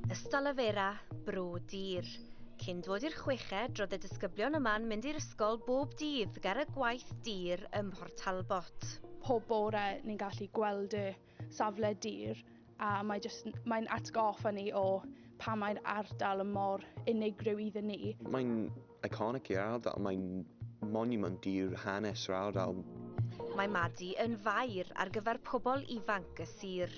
Ystalyfera, Bro Dur. Cyn dod i'r chweched, roedd y disgyblion yma'n mynd i'r ysgol bob dydd ger y gwaith dur ym Mhort Talbot. Pob bore ni'n gallu gweld y safle dur a mae jyst... mae'n atgoffa ni o pam mae'r ardal yn mor unigryw iddyn ni. Mae'n Iconic i'r ardal, mae'n moniwmynt i'r hanes yr ardal. Mae Madi yn faer ar gyfer pobl ifanc y sir.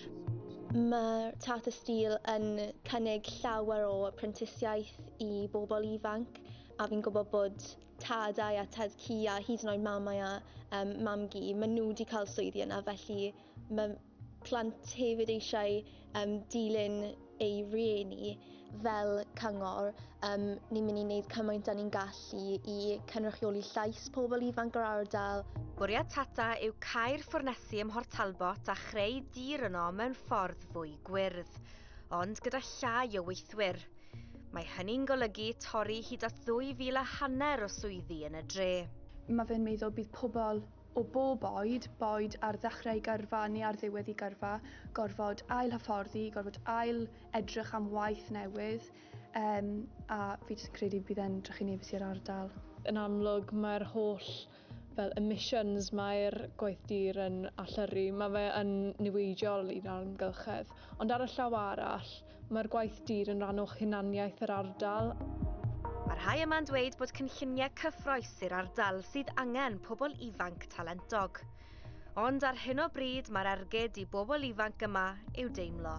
Mae'r Tata Steel yn cynnig llawer o prentisiaeth i bobl ifanc a fi'n gwybod bod tadau a tad cu a hyd yn oed mamau a um, mam-gu, maen nhw wedi cael swyddi yna felly mae plant hefyd eisiau um, dilyn ei rieni fel cyngor, um, ni'n mynd i wneud cymaint da ni'n gallu i cynrychioli llais pobl ifanc yr ardal. Bwriad Tata yw cael ffwrnesi ym Mhort Talbot a chreu dir yno mewn ffordd fwy gwyrdd, ond gyda llai o weithwyr. Mae hynny'n golygu torri hyd at ddwy fil a hanner o swyddi yn y dre. Mae fe'n meddwl bydd pobl o bob oed, boed ar ddechrau gyrfa neu ar ddiwedd i gyrfa, gorfod ail-hyfforddi, gorfod ail edrych am waith newydd, um, a fi jyst yn credu bydd e'n drychinebus i'r ardal. Yn amlwg mae'r holl fel emissions mae'r gwaith dur yn allyrru, mae fe yn niweidiol i'n amgylchedd, ond ar y llaw arall, Mae'r gwaith dur yn rhan o hunaniaeth yr ardal. Mae rhai yma'n dweud bod cynlluniau cyffroes i'r ardal sydd angen pobl ifanc talentog. Ond ar hyn o bryd mae'r ergyd i bobl ifanc yma i'w deimlo.